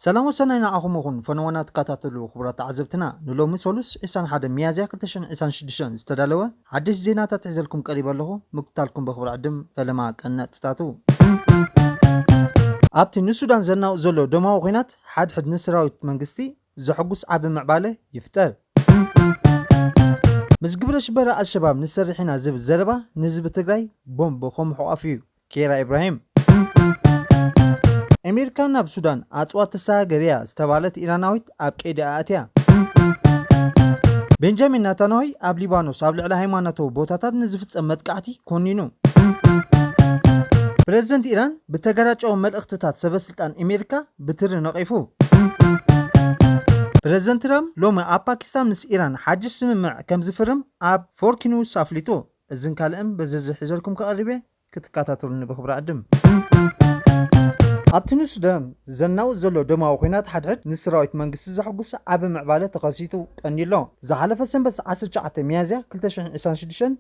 ሰላም ወሰናይ ንዓኹም ይኹን ፈነወና ትከታተሉ ክቡራት ተዓዘብትና ንሎሚ ሰሉስ 21 ሚያዝያ 2026 ዝተዳለወ ሓድሽ ዜናታት ሒዘልኩም ቀሪበ ኣለኹ ምክታልኩም በክብሪ ዕድም ፈለማ ቀነጥብታቱ ኣብቲ ንሱዳን ዘናውእ ዘሎ ደማዊ ኩናት ሓድሕድ ንሰራዊት መንግስቲ ዘሕጉስ ዓቢ ምዕባለ ይፍጠር። ምስ ግብረ ሽበራ ኣልሸባብ ንሰርሕ ኢና ዝብል ዘረባ ንህዝቢ ትግራይ ቦምብ ከምሕቋፍ እዩ፣ ኬራ ኢብራሂም። ኤሜሪካ ናብ ሱዳን ኣጽዋር ተሰጋግር እያ ዝተባህለት ኢራናዊት ኣብ ቀይዲ ኣእትያ። ቤንጃሚን ናታንዋይ ኣብ ሊባኖስ ኣብ ልዕሊ ሃይማኖታዊ ቦታታት ንዝፍጸም መጥቃዕቲ ኮኒኑ። ፕረዚደንት ኢራን ብተገራጫዊ መልእኽትታት ሰበስልጣን ኤሜሪካ ብትሪ ነቒፉ። ፕረዚደንት ትራምፕ ሎሚ ኣብ ፓኪስታን ምስ ኢራን ሓድሽ ስምምዕ ከም ዝፍርም ኣብ ፎርኪ ኒውስ ኣፍሊጡ። እዝን ካልእን ብዝርዝር ሒዘልኩም ክቐርብ'የ ክትከታተሉኒ ብኽብሪ እዕድም። ኣብቲ ንሱዳን ዘናውጽ ዘሎ ደማዊ ኲናት ሓድሕድ ንሰራዊት መንግስቲ ዘሐጉስ ዓቢ ምዕባለ ተኸሲቱ ቀንዩ'ሎ። ዝሓለፈ ሰንበት ዓሰርተ ትሽዓተ ሚያዝያ ክልተ ሽሕን ዒስራን ሽዱሽተን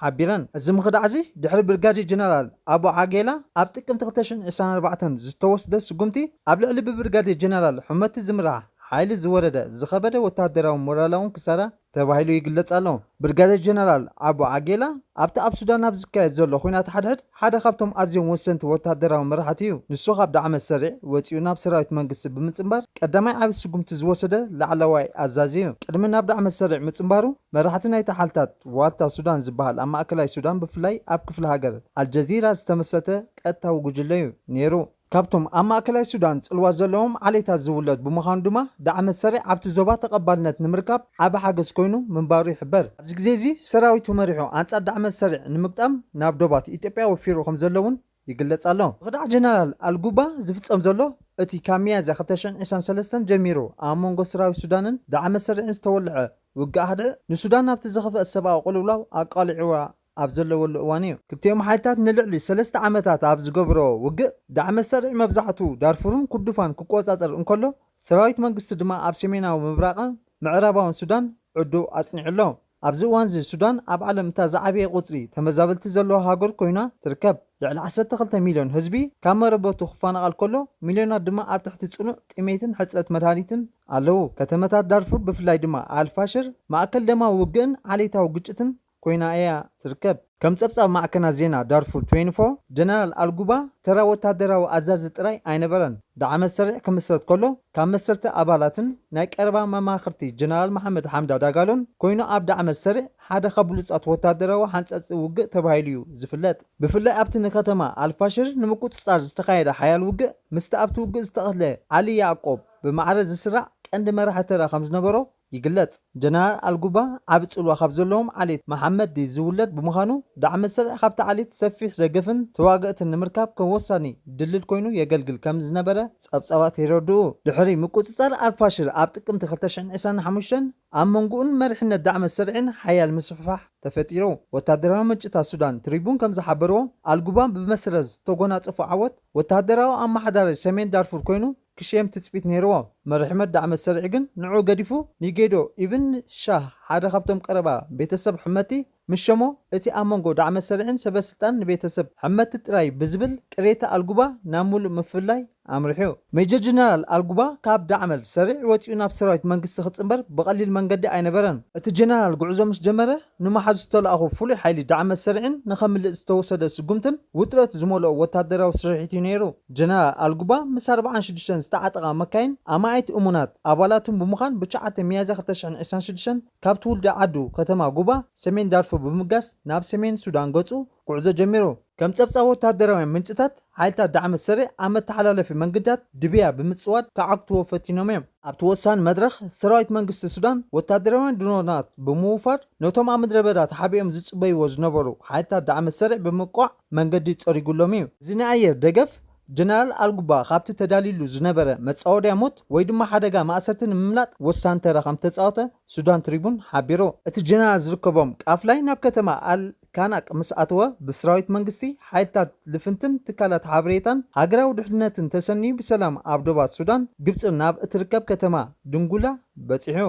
ሓቢረን። እዚ ምኽዳዕ'ዚ ድሕሪ ብርጋዴር ጀነራል ኣቡ ዓጌላ ኣብ ጥቅምቲ ክልተ ሽሕን ዕስራን ኣርባዕተን ዝተወስደ ስጉምቲ ኣብ ልዕሊ ብብርጋዴር ጀነራል ሑመቲ ዝምራሕ ሓይሊ ዝወረደ ዝኸበደ ወተሃደራውን ሞራላውን ክሳራ ተባሂሉ ይግለጽ ኣሎ። ብርጋዴር ጀነራል ኣቡ ዓጌላ ኣብቲ ኣብ ሱዳን ኣብ ዝካየድ ዘሎ ኹናት ሓድሕድ ሓደ ካብቶም ኣዝዮም ወሰንቲ ወተሃደራዊ መራሕቲ እዩ። ንሱ ካብ ዳዕመ ሰሪዕ ወጺኡ ናብ ሰራዊት መንግስቲ ብምጽንባር ቀዳማይ ዓቢ ስጉምቲ ዝወሰደ ላዕለዋይ ኣዛዚ እዩ። ቅድሚ ናብ ዳዕመ ሰሪዕ ምጽንባሩ፣ መራሕቲ ናይቲ ሓልታት ዋልታ ሱዳን ዝበሃል ኣብ ማእከላይ ሱዳን ብፍላይ ኣብ ክፍለ ሃገር ኣልጀዚራ ዝተመስረተ ቀጥታዊ ጉጅለ እዩ ነይሩ። ካብቶም ኣብ ማእከላይ ሱዳን ጽልዋ ዘለዎም ዓሌታት ዝውለድ ብምዃኑ ድማ ዳዕመ ሰሪዕ ኣብቲ ዞባ ተቐባልነት ንምርካብ ዓቢ ሓገዝ ኮይኑ ምንባሩ ይሕበር። ኣብዚ ግዜ'ዚ ሰራዊቱ መሪሑ ኣንጻር ዳዕመ ሰሪዕ ንምግጣም ናብ ዶባት ኢትዮጵያ ወፊሩ ከምዘሎ'ውን ይግለጽ ኣሎ። ብኽዳዕ ጀነራል ኣልጉባ ዝፍጸም ዘሎ እቲ ካብ ሚያዝያ ክልተ ሽሕን ዒስራን ሰለስተን ጀሚሩ ኣብ መንጎ ሰራዊት ሱዳንን ዳዕመ ሰሪዕን ዝተወልዐ ውግእ ሃድዕ ንሱዳን ናብቲ ዝኸፍኣ ሰብኣዊ ቅልውላው ኣቃሊዑዋ ኣብ ዘለወሉ እዋን'ዩ። ክልቲኦም ሓይልታት ንልዕሊ ሰለስተ ዓመታት ኣብ ዝገብሮ ውግእ፣ ዳዕመ-ሰሪዕ መብዛሕትኡ ዳርፉርን ኩርዱፋን ክቆጻጸር እንከሎ፣ ሰራዊት መንግስቲ ድማ ኣብ ሰሜናዊ ምብራቕን ምዕራባውን ሱዳን ዕርዱ ኣጽኒዑ ኣሎ። ኣብዚ እዋን'ዚ ሱዳን ኣብ ዓለም እታ ዝዓበየ ቁጽሪ ተመዛበልቲ ዘለዋ ሃገር ኰይና ትርከብ። ልዕሊ ዓሰርተ ክልተ ሚልዮን ህዝቢ ካብ መረበቱ ክፈናቐል ከሎ፣ ሚልዮናት ድማ ኣብ ትሕቲ ጽኑዕ ጥሜትን ሕጽረት መድሃኒትን ኣለዉ። ከተመታት ዳርፉር ብፍላይ ድማ ኣል-ፋሽር ማእከል ደማዊ ውግእን ዓሌታዊ ግጭትን ኮይና እያ ትርከብ። ከም ጸብጻብ ማዕከናት ዜና ዳርፉር ትዌንቲ ፎር፣ ጀነራል ኣልጉባ ተራ ወተሃደራዊ ኣዛዚ ጥራይ ኣይነበረን። ዳዕመ ሰሪዕ ክምስረት ከሎ ካብ መሰርቲ ኣባላትን ናይ ቀረባ መማኽርቲ ጀነራል መሓመድ ሓምዳ ዳጋሎን ኮይኑ ኣብ ዳዕመ ሰሪዕ ሓደ ካብ ብሉጻት ወተሃደራዊ ሓንጸጽቲ ውግእ ተባሂሉ'ዩ ዝፍለጥ። ብፍላይ ኣብቲ ንከተማ ኣልፋሽር ንምቁጽጻር ዝተኻየደ ሓያል ውግእ ምስቲ ኣብቲ ውግእ ዝተቐትለ ዓሊ ያዕቆብ ብማዕረ ዝስራዕ ቀንዲ መራሒ ተራ ከምዝነበሮ ይግለጽ። ጀነራል ኣልጉባ ዓቢ ጽልዋ ካብ ዘለዎም ዓሌት መሓመዲ ዝውለድ ብምዃኑ፣ ዳዕመ ስርዒ ካብቲ ዓሌት ሰፊሕ ደገፍን ተዋገእትን ንምርካብ ከም ወሳኒ ድልድል ኮይኑ የገልግል ከም ዝነበረ ጸብጻባት የረድኡ። ድሕሪ ምቁጽጻር ኣልፋሽር ኣብ ጥቅምቲ ክልተ ሽሕን ዕስራን ሓሙሽተን፣ ኣብ መንጎኡን መሪሕነት ዳዕመ ስርዒን ሓያል ምስፍሕፋሕ ተፈጢሩ። ወተሃደራዊ ምንጭታት ሱዳን ትሪቡን ከም ዝሓበርዎ፣ ኣልጉባ ብመሰረት ዝተጎናጸፎ ዓወት፣ ወተሃደራዊ ኣመሓዳሪ ሰሜን ዳርፉር ኮይኑ ክሽየም ትጽቢት ነይርዎ። መርሒ መዳዕ መሰርዒ ግን ንዕኡ ገዲፉ ንጌዶ ኢብን ሻህ ሓደ ካብቶም ቀረባ ቤተሰብ ሕመቲ ምስ ሸሞ፣ እቲ ኣብ መንጎ ዳዕ መሰርዒን ሰበስልጣንን ንቤተሰብ ሕመቲ ጥራይ ብዝብል ቅሬታ ኣልጉባ ናብ ምሉእ ምፍልላይ ኣምሪሑ። ሜጀር ጀነራል ኣልጉባ ካብ ዳዕ መል ሰርዒ ወጺኡ ናብ ሰራዊት መንግስቲ ክጽንበር ብቐሊል መንገዲ ኣይነበረን። እቲ ጀነራል ጉዕዞ ምስ ጀመረ ንመሓዝ ዝተላእኹ ፍሉይ ሓይሊ ዳዕመ ሰሪዕን ንኸምልጥ ዝተወሰደ ስጉምትን ውጥረት ዝመልኦ ወታደራዊ ስርሒት እዩ ነይሩ። ጀነራል ኣልጉባ ምስ ኣርብዓን ሽዱሽተን ዝተዓጠቓ መካይን ኣማኢት እሙናት ኣባላቱን ብምዃን ብ ትሽዓተ ሚያዝያ ክልተ ሽሕን ዒስራን ሽዱሽተን ካብ ትውልዲ ዓዱ ከተማ ጉባ ሰሜን ዳርፉር ብምጋስ ናብ ሰሜን ሱዳን ገጹ ጉዕዞ ጀሚሩ። ከም ጸብጻብ ወተሃደራውያን ምንጭታት፣ ሓይልታት ዳዕመ ሰሪዕ ኣብ መተሓላለፊ መንግድታት ድብያ ብምጽዋድ ክዓግትዎ ፈቲኖም እዮም። ኣብቲ ወሳኒ መድረኽ፣ ሰራዊት መንግስቲ ሱዳን ወተሃደራውያን ድሮናት ብምውፋር ነቶም ኣብ ምድረ በዳ ተሓቢኦም ዝጽበይዎ ዝነበሩ ሓይልታት ዳዕመ ሰሪዕ ብምውቃዕ መንገዲ ጸሪጉሎም እዩ። እዚ ናይ ኣየር ደገፍ፣ ጀነራል ኣልጉባ ካብቲ ተዳልዩሉ ዝነበረ መጻወድያ ሞት ወይ ድማ ሓደጋ ማእሰርቲ ንምምላጥ ወሳኒ ተራ ከም ዝተጻወተ ሱዳን ትሪቡን ሓቢሩ። እቲ ጀነራል ዝርከቦም ቃፍላይ ናብ ከተማ ኣል ካናቅ ምስ ኣተወ ብስራዊት መንግስቲ፣ ሓይልታት ልፍንትን ትካላት ሓበሬታን ሃገራዊ ድሕንነትን ተሰንዩ ብሰላም ኣብ ዶባት ሱዳን፣ ግብጺ ናብ እትርከብ ከተማ ድንጉላ በጺሑ።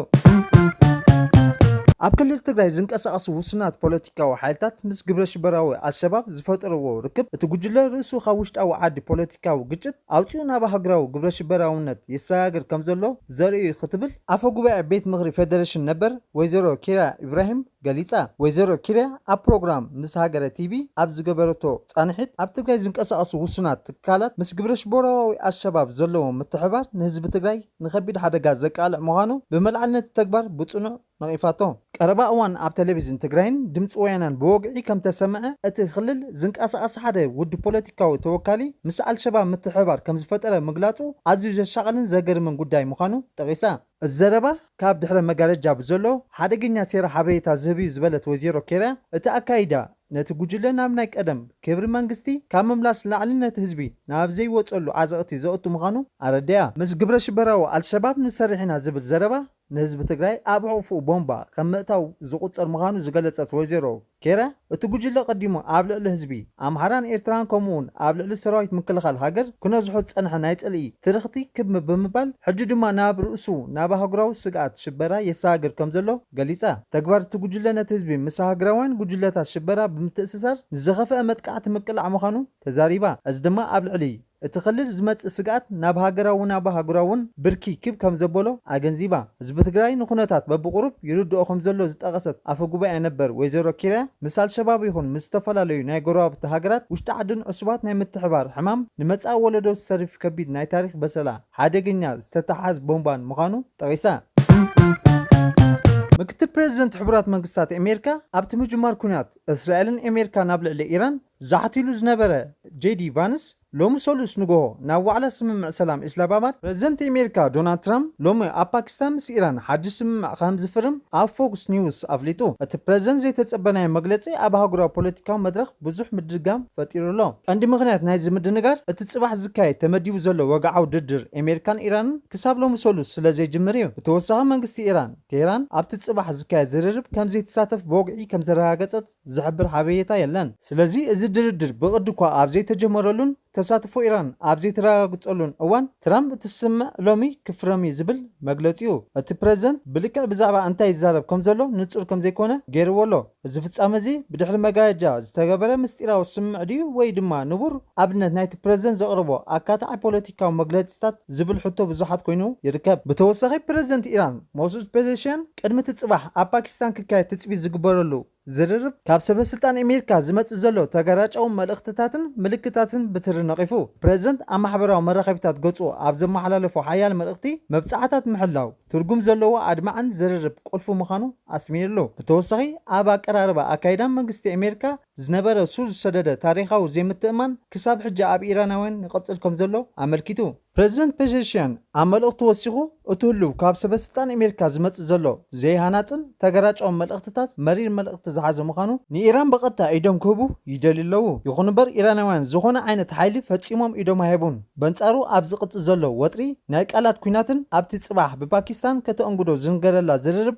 ኣብ ክልል ትግራይ ዝንቀሳቐሱ ውሱናት ፖለቲካዊ ሓይልታት ምስ ግብረሽበራዊ ኣልሸባብ ዝፈጠርዎ ርክብ እቲ ጉጅለ ርእሱ ካብ ውሽጣዊ ዓዲ ፖለቲካዊ ግጭት ኣውጺኡ ናብ ሃገራዊ ግብረሽበራውነት የሰጋግር ከምዘሎ ዘርኢ'ዩ ክትብል ኣፈ ጉባኤ ቤት ምኽሪ ፌደሬሽን ነበር ወይዘሮ ኪራ ኢብራሂም ገሊጻ። ወይዘሮ ኪርያ ኣብ ፕሮግራም ምስ ሃገረ ቲቪ ኣብ ዝገበረቶ ጻንሒት፣ ኣብ ትግራይ ዝንቀሳቐሱ ውሱናት ትካላት ምስ ግብረሽበራዊ ኣልሸባብ ዘለዎም ምትሕብባር ንህዝቢ ትግራይ ንከቢድ ሓደጋ ዘቃልዕ ምዃኑ ብመልዓል ነቲ ተግባር ብጽኑዕ ነቒፋቶ። ቀረባ እዋን ኣብ ቴሌቪዥን ትግራይን ድምጺ ወያነን ብወግዒ ከምተሰምዐ፣ እቲ ክልል ዝንቀሳቐስ ሓደ ውድብ ፖለቲካዊ ተወካሊ ምስ ኣልሸባብ ምትሕብባር ከምዝፈጠረ ምግላጹ ኣዝዩ ዘሻቕልን ዘገርምን ጉዳይ ምዃኑ ጠቒሳ። እዚ ዘረባ ካብ ድሕረ መጋረጃ ብዘሎ ሓደገኛ ሴራ ሓበሬታ ዝህብ'ዩ ዝበለት ወይዜሮ ኬርያ፣ እቲ ኣካይዳ ነቲ ጉጅለ ናብ ናይ ቀደም ክብሪ መንግስቲ ካብ ምምላስ ንላዕሊ ነቲ ህዝቢ ናብ ዘይወጸሉ ዓዘቕቲ ዘእቱ ምዃኑ ኣረዲኣ። ምስ ግብረሽበራዊ ኣልሸባብ ንሰርሕ ኢና ዝብል ዘረባ ንህዝቢ ትግራይ ኣብ ሕቝፍኡ ቦምባ ከም ምእታው ዝቝጸር ምዃኑ ዝገለጸት ወይዘሮ፣ ኬረ፣ እቲ ጉጅለ ቀዲሙ ኣብ ልዕሊ ህዝቢ ኣምሓራን ኤርትራን ከምኡ'ውን ኣብ ልዕሊ ሰራዊት ምክልኻል ሃገር ክነዝሖ ዝጸንሐ ናይ ጽልኢ ትርኽቲ ክብ ብምባል ሕጂ ድማ ናብ ርእሱ ናብ ኣህጉራዊ ስግኣት ሽበራ የሰጋግር ከም ዘሎ ገሊጻ። ተግባር እቲ ጉጅለ ነቲ ህዝቢ ምስ ሃገራውያን ጉጅለታት ሽበራ ብምትእስሳር ንዝኸፍኣ መጥቃዕቲ ምቅላዕ ምዃኑ ተዛሪባ። እዚ ድማ ኣብ ልዕሊ እቲ ክልል ዝመፅእ ስግኣት ናብ ሃገራዊን ኣብ ኣህጉራዊን ብርኪ ክብ ከምዘበሎ ኣገንዚባ። ህዝቢ ትግራይ ንኩነታት በብቑሩብ ይርድኦ ከምዘሎ ዝጠቐሰት ኣፈ ጉባኤ ነበር ወይዘሮ ኪርያ፣ ምስ ኣልሸባብ ይኹን ምስ ዝተፈላለዩ ናይ ጎረባብቲ ሃገራት ውሽጢ ዓድን ዕሱባት ናይ ምትሕብባር ሕማም ንመፃኢ ወለዶ ዝተርፍ ከቢድ ናይ ታሪኽ በሰላ ሓደገኛ ዝተተሓሓዝ ቦምባን ምዃኑ ጠቒሳ። ምክትል ፕረዚደንት ሕቡራት መንግስታት ኣሜሪካ ኣብቲ ምጅማር ኲናት እስራኤልን ኣሜሪካን ኣብ ልዕሊ ኢራን፣ ዛሕቲሉ ዝነበረ ጄዲ ቫንስ ሎሚ ሰሉስ ንጎሆ ናብ ዋዕላ ስምምዕ ሰላም ኢስላባባድ ፕረዚደንት ኤሜሪካ ዶናልድ ትራምፕ ሎሚ ኣብ ፓኪስታን ምስ ኢራን ሓድሽ ስምምዕ ከምዝፍርም ኣብ ፎክስ ኒውስ ኣፍሊጡ። እቲ ፕረዚደንት ዘይተጸበናዮ መግለጺ ኣብ ኣህጉራዊ ፖለቲካዊ መድረኽ ብዙሕ ምድርጋም ፈጢሩ ኣሎ። ቀንዲ ምኽንያት ናይዚ ምድንጋር እቲ ጽባሕ ዝካየድ ተመዲቡ ዘሎ ወግዓዊ ድርድር ኤሜሪካን ኢራንን ክሳብ ሎሚ ሰሉስ ስለዘይጅምር እዩ። ብተወሳኺ መንግስቲ ኢራን ቴህራን ኣብቲ ጽባሕ ዝካየድ ዝርርብ ከምዘይትሳተፍ ብወግዒ ከምዘረጋገጸት ዝሕብር ሓበሬታ የለን። ስለዚ እዚ ድርድር ብቕዲ'ኳ ኣብ ዘይተጀመረሉን ተሳትፎ ኢራን ኣብ ዘይተረጋግጸሉን እዋን፣ ትራምፕ እቲ ስምምዕ ሎሚ ክፍረም'ዩ ዝብል መግለጺኡ፣ እቲ ፕረዚደንት ብልክዕ ብዛዕባ እንታይ ይዛረብ ከምዘሎ ንጹር ከምዘይኮነ ገይርዎ ኣሎ። እዚ ፍጻመ'ዚ ብድሕሪ መጋረጃ ዝተገበረ ምስጢራዊ ስምምዕ ድዩ ወይ ድማ ንቡር ኣብነት ናይቲ ፕረዚደንት ዘቕረቦ ኣካታዒ ፖለቲካዊ መግለጺታት ዝብል ሕቶ ብዙሓት ኮይኑ ይርከብ። ብተወሳኺ ፕረዚደንት ኢራን ሞሱድ ፔዘሽያን፣ ቅድሚ እቲ ጽባሕ ኣብ ፓኪስታን ክካየድ ትጽቢት ዝግበረሉ ዝርርብ፣ ካብ ሰበስልጣን ኣሜሪካ ዝመጽእ ዘሎ ተገራጫዊ መልእኽትታትን ምልክታትን ብትሪ ነቒፉ። ፕረዚደንት ኣብ ማሕበራዊ መራኸቢታት ገጹ ኣብ ዘመሓላለፎ ሓያል መልእኽቲ፣ መብጽዓታት ምሕላው፣ ትርጉም ዘለዎን ኣድማዕን ዝርርብ ቁልፊ ምዃኑ ኣስሚርሉ። ብተወሳኺ ኣብ ኣቀራርባ ኣካይዳ መንግስቲ ኣሜሪካ ዝነበረ ሱር ዝሰደደ ታሪኻዊ ዘይምትእምማን ክሳብ ሕጂ ኣብ ኢራናውያን ይቕጽል ከምዘሎ ኣመልኪቱ። ፕረዚደንት ፔዜሽያን ኣብ መልእኽቱ ወሲኹ፣ እቲ ህሉው ካብ ሰበስልጣን እሜሪካ ዝመጽእ ዘሎ ዘይሃናጽን ተገራጫውን መልእኽትታት መሪር መልእኽቲ ዝሓዘ ምዃኑ፣ ንኢራን ብቐጥታ ኢዶም ክህቡ ይደልዩ ኣለዉ። ይኹን'ምበር ኢራናውያን ዝኾነ ዓይነት ሓይሊ ፈጺሞም ኢዶም ኣይህቡን። በንጻሩ ኣብ ዝቕጽል ዘሎ ወጥሪ ናይ ቃላት ኲናትን ኣብቲ ጽባሕ ብፓኪስታን ከተእንግዶ ዝንገረላ ዝርርብ፣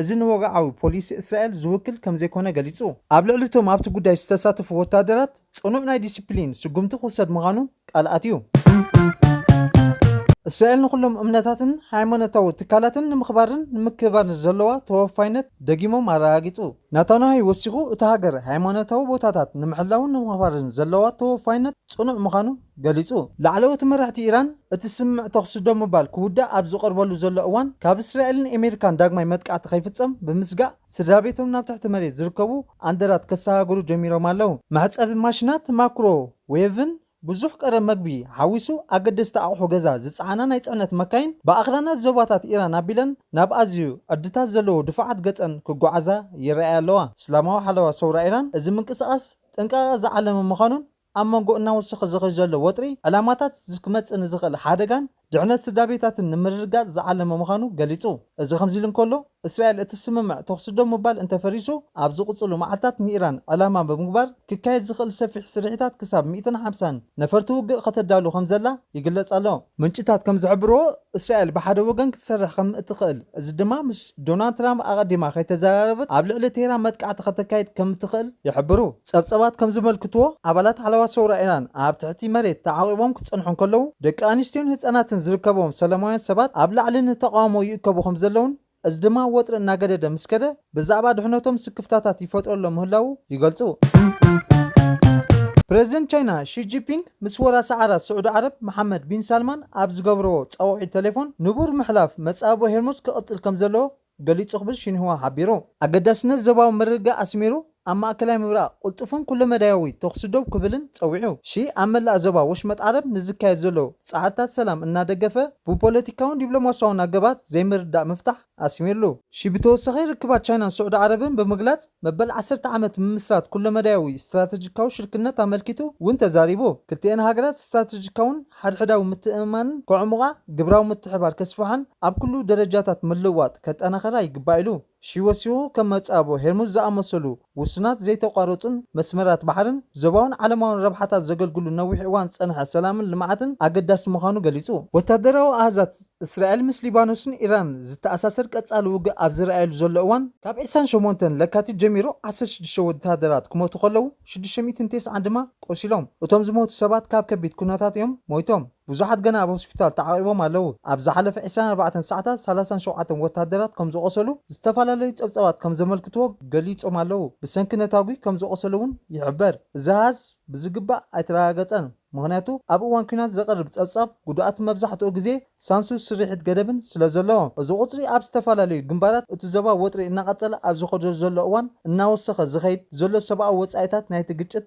እዚ ንወግዓዊ ፖሊሲ እስራኤል ዝውክል ከምዘይኮነ ገሊጹ። ኣብ ልዕሊ እቶም ኣብቲ ጉዳይ ዝተሳተፉ ወተሃደራት ጽኑዕ ናይ ዲሲፕሊን ስጉምቲ ክውሰድ ምዃኑ ቃል ኣትዩ። እስራኤል ንኹሎም እምነታትን ሃይማኖታዊ ትካላትን ንምኽባርን ንምክብባርን ዘለዋ ተወፋይነት ደጊሞም ኣረጋጊጹ። ናታንያሁ ወሲኹ፣ እታ ሃገር ሃይማኖታዊ ቦታታት ንምሕላውን ንምኽባርን ዘለዋ ተወፋይነት ጽኑዕ ምዃኑ ገሊጹ። ላዕለዎት መራሕቲ ኢራን፣ እቲ ስምምዕ ተዅሲ ደው ምባል ክውዳእ ኣብ ዝቐርበሉ ዘሎ እዋን፣ ካብ እስራኤልን ኤሜሪካን ዳግማይ መጥቃዕቲ ከይፍጸም ብምስጋእ፣ ስድራቤቶም ናብ ትሕቲ መሬት ዝርከቡ ኣንደራት ከሰጋግሩ ጀሚሮም ኣለዉ። መሕጸቢ ማሽናት፣ ማክሮ ዌቭን ብዙሕ ቀረብ መግቢ ሓዊሱ ኣገደስቲ ኣቕሑ ገዛ ዝጸዓና ናይ ጽዕነት መካይን ብኣኽራናት ዞባታት ኢራን ኣቢለን ናብ ኣዝዩ ዕድታት ዘለዎ ድፋዓት ገጸን ክጓዓዛ ይረኣያ ኣለዋ። እስላማዊ ሓለዋ ሰውራ ኢራን እዚ ምንቅስቓስ ጥንቃቐ ዝዓለመ ምዃኑን፣ ኣብ መንጎ እናወሰኸ ዝኸይድ ዘሎ ወጥሪ ዕላማታት ክመጽእ ንዝኽእል ሓደጋን ድሕነት ስድራቤታትን ንምርግጋጽ ዝዓለመ ምዃኑ ገሊጹ። እዚ ከምዚሉ እንከሎ፣ እስራኤል እቲ ስምምዕ ተዅሲ ደው ምባል እንተፈሪሱ ኣብ ዝቕጽሉ መዓልታት ንኢራን ዕላማ ብምግባር ክካየድ ዝኽእል ሰፊሕ ስርሒታት ክሳብ ሚእትን ሓምሳን ነፈርቲ ውግእ ከተዳሉ ከምዘላ ይግለጽ ኣሎ። ምንጭታት ከም ዝሕብርዎ፣ እስራኤል ብሓደ ወገን ክትሰርሕ ከም እትኽእል፣ እዚ ድማ ምስ ዶናልድ ትራምፕ ኣቐዲማ ከይተዘራረበት ኣብ ልዕሊ ቴህራን መጥቃዕቲ ከተካይድ ከም እትኽእል ይሕብሩ። ጸብጻባት ከም ዘመልክትዎ፣ ኣባላት ሓለዋ ሰውራ ኢራን ኣብ ትሕቲ መሬት ተዓቚቦም ክጸንሑ እንከለዉ፣ ደቂ ኣንስትዮን ህጻናትን ዝርከብዎም ሰለማውያን ሰባት ኣብ ላዕሊ ንተቓውሞ ይእከቡ ከም ዘለዉን፣ እዚ ድማ ወጥሪ እናገደደ ምስ ከደ ብዛዕባ ድሕነቶም ስክፍታታት ይፈጥረሎም ምህላዉ ይገልጹ። ፕረዚደንት ቻይና ሺ ጂፒንግ ምስ ወራሲ ዓራት ስዑዲ ዓረብ መሓመድ ቢን ሳልማን ኣብ ዝገብረዎ ጻውዒት ተሌፎን ንቡር ምሕላፍ መጻብቦ ሄርሞዝ ክቕጽል ከምዘለዎ ገሊጹ ክብል ሺንህዋ ሓቢሩ። ኣገዳስነት ዞባዊ ምርግጋእ ኣስሚሩ ኣብ ማእከላይ ምብራቕ ቅልጡፍን ኩለመዳያዊ ተኹሲ ደው ክብልን ጸዊዑ። ሺ ኣብ መላእ ዞባ ወሽመጥ ዓረብ ንዝካየድ ዘሎ ጻዕርታት ሰላም እናደገፈ ብፖለቲካውን ዲፕሎማስያውን ኣገባባት ዘይምርድዳእ ምፍታሕ ኣስሚርሉ። ሺ ብተወሳኺ ርክባት ቻይናን ስዑዲ ዓረብን ብምግላጽ መበል ዓሰርተ ዓመት ምምስራት ኩለመዳያዊ ስትራተጂካዊ ሽርክነት ኣመልኪቱ ውን ተዛሪቡ። ክልቲኤን ሃገራት ስትራተጂካውን ሓድሕዳዊ ምትእምማንን ከዕሙቓ፣ ግብራዊ ምትሕብባር ከስፍሓን ኣብ ኩሉ ደረጃታት ምልውዋጥ ከጠናኸራ ይግባእ ኢሉ። ሺወሲዎ ከም መጻብቦ ሄርሙዝ ዝኣመሰሉ ውሱናት ዘይተቋረጹን መስመራት ባሕርን ዞባውን ዓለማውን ረብሓታት ዘገልግሉ ነዊሕ እዋን ዝጸንሐ ሰላምን ልምዓትን ኣገዳሲ ምዃኑ ገሊጹ። ወታደራዊ ኣሃዛት እስራኤል ምስ ሊባኖስን ኢራንን ዝተኣሳሰር ቀጻሊ ውግእ ኣብ ዝርኣየሉ ዘሎ እዋን፣ ካብ ዕስራን ሸሞንተን ለካቲት ጀሚሩ ዓሰርተ ሽዱሽተ ወተሃደራት ክሞቱ ከለዉ ሽዱሽተ ሚእትን ቴስዓን ድማ ቆሲሎም። እቶም ዝሞቱ ሰባት ካብ ከቢድ ኩነታት እዮም ሞይቶም። ብዙሓት ገና ኣብ ሆስፒታል ተዓቚቦም ኣለዉ። ኣብ ዝሓለፈ ዕስራን ኣርባዕተን ሰዓታት ሰላሳን ሸውዓተን ወተሃደራት ከም ዝቖሰሉ ዝተፈላለዩ ጸብጻባት ከም ዘመልክትዎ ገሊጾም ኣለዉ። ብሰንኪ ነታጒ ከም ዝቖሰሉ'ውን ይሕበር። እዚ ኣሃዝ ብዝግባእ ኣይተረጋገጸን፣ ምኽንያቱ ኣብ እዋን ኲናት ዘቐርብ ጸብጻብ ጉዱኣት መብዛሕትኡ ግዜ ሳንሱር ስርሒት ገደብን ስለ ዘሎ። እዚ ቁጽሪ ኣብ ዝተፈላለዩ ግንባራት እቲ ዞባ ወጥሪ እናቐጸለ ኣብ ዝኸደሉ ዘሎ እዋን እናወሰኸ ዝኸይድ ዘሎ ሰብኣዊ ወጻኢታት ናይቲ ግጭት፣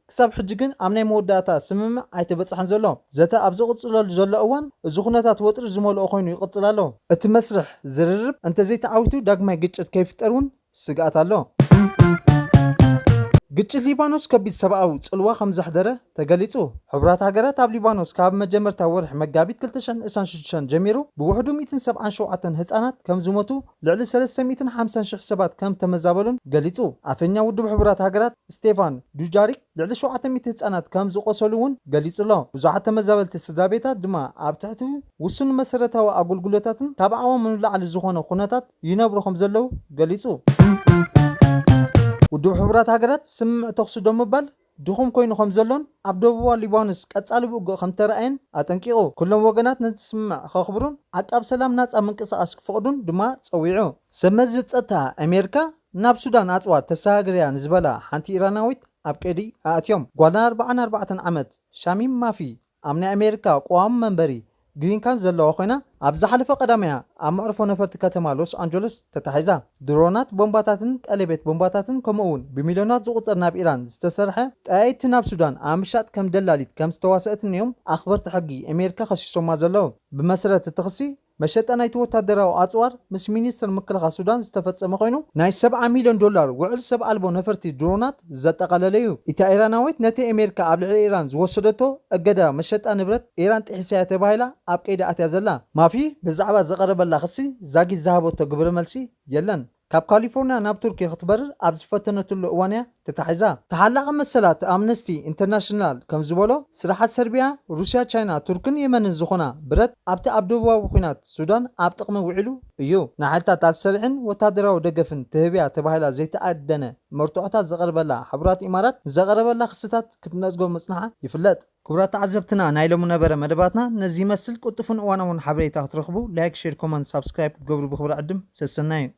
ክሳብ ሕጂ ግን ኣብ ናይ መወዳእታ ስምምዕ ኣይተበጽሐን ዘሎ። ዘተ ኣብ ዝቕጽለሉ ዘሎ እዋን እዚ ኩነታት ወጥሪ ዝመልኦ ኮይኑ ይቕጽል ኣሎ። እቲ መስርሕ ዝርርብ እንተዘይተዓዊቱ ዳግማይ ግጭት ከይፍጠር እውን ስግኣት ኣሎ። ግጭት ሊባኖስ ከቢድ ሰብኣዊ ጽልዋ ከም ዘሕደረ ተገሊጹ። ሕቡራት ሃገራት ኣብ ሊባኖስ ካብ መጀመርታ ወርሒ መጋቢት ክልተ ሽሕን ዕስራን ሽዱሽተን ጀሚሩ ብውሕዱ ሚእትን ሰብዓን ሸውዓተን ህጻናት ከም ዝሞቱ ልዕሊ ሰለስተ ሚእትን ሓምሳን ሽሕ ሰባት ከም እተመዛበሉን ገሊጹ። ኣፈኛ ውድብ ሕቡራት ሃገራት ስቴፋን ዱጃሪክ ልዕሊ ሸውዓተ ሚእቲ ህጻናት ከም ዝቖሰሉ እውን ገሊጹ ኣሎ። ብዙሓት ተመዛበልቲ ስድራቤታት ድማ ኣብ ትሕቲ ውሱን መሰረታዊ ኣጉልጉሎታትን ካብ ዓቕሞም ንላዕሊ ዝኾነ ኩነታት ይነብሩ ከም ዘለዉ ገሊጹ። ውድብ ሕቡራት ሃገራት ስምምዕ ተኹሲ ደው ምባል ድኹም ኮይኑ ከም ዘሎን ኣብ ደቡባዊ ሊባኖስ ቀጻሊ ውግእ ከም እተራእየን ኣጠንቂቑ፣ ኩሎም ወገናት ነቲ ስምምዕ ክኸኽብሩን ዓቃብ ሰላም ናጻ ምንቅስቓስ ክፈቕዱን ድማ ጸዊዑ። ሰብ መዚ ጸጥታ ኣሜሪካ ናብ ሱዳን ኣጽዋር ተሰጋግር እያ ንዝበላ ሓንቲ ኢራናዊት ኣብ ቀይዲ ኣእትዮም። ጓል ኣርብዓን ኣርባዕተን ዓመት ሻሚም ማፊ ኣብ ናይ ኣሜሪካ ቕዋሚ መንበሪ፣ ግሪን ካርድ፣ ዘለዋ ኮይና፣ ኣብ ዝሓለፈ ቀዳም'ያ ኣብ መዕርፎ ነፈርቲ ከተማ ሎስ ኣንጀለስ ተታሒዛ። ድሮናት፣ ቦምባታትን ቀሌቤት ቦምባታትን ከምኡ'ውን ብሚልዮናት ዝቑጸር ናብ ኢራን ዝተሰርሐ ጠያይቲ ናብ ሱዳን ኣብ ምሻጥ ከም ደላሊት ከም ዝተዋሰኣትን'ዮም ኣኽበርቲ ሕጊ ኣሜሪካ ከሲሶማ ዘለዉ። ብመሰረት እቲ ክሲ፣ መሸጣ ናይቲ ወታደራዊ ኣጽዋር ምስ ሚኒስተር ምክልኻል ሱዳን ዝተፈጸመ ኮይኑ፣ ናይ ሰብዓ ሚልዮን ዶላር ውዕል ሰብ ኣልቦ ነፈርቲ ድሮናት ዘጠቓለለ'ዩ። እታ ኢራናዊት ነቲ ኣሜሪካ ኣብ ልዕሊ ኢራን ዝወሰደቶ እገዳ መሸጣ ንብረት ኢራን ጥሒሳ'ያ ተባሂላ ኣብ ቀይዲ ኣትያ ዘላ። ማፊ ብዛዕባ ዝቐረበላ ክሲ ዛጊት ዝሃበቶ ግብረ መልሲ የለን። ካብ ካሊፎርንያ ናብ ቱርኪ ክትበርር ኣብ ዝፈተነትሉ እዋን'ያ ተታሒዛ። ተሓላቒ መሰላት ኣምነስቲ ኢንተርናሽናል ከም ዝበሎ፣ ስራሓት ሰርቢያ፣ ሩስያ፣ ቻይና፣ ቱርክን የመንን ዝኾና ብረት ኣብቲ ኣብ ደቡባዊ ኲናት ሱዳን ኣብ ጥቕሚ ውዒሉ እዩ። ንሓይልታት ኣልሰሪሕን ወተሃደራዊ ደገፍን ትህብ'ያ ተባሂላ ዘይተኣደነ መርትዖታት ዘቕርበላ ሕቡራት ኢማራት፣ ንዘቐረበላ ክስታት ክትነጽጎ ምጽንሓ ይፍለጥ። ክቡራት ተዓዘብትና ናይ ሎሚ ነበረ መደባትና ነዚ ይመስል፣ ቅልጡፍን እዋናውን ሓበሬታ ክትረኽቡ ላይክ፣ ሼር፣ ኮመንት፣ ሳብስክራይብ ክትገብሩ ብኽብሪ ዕድም። ሰሰናዩ።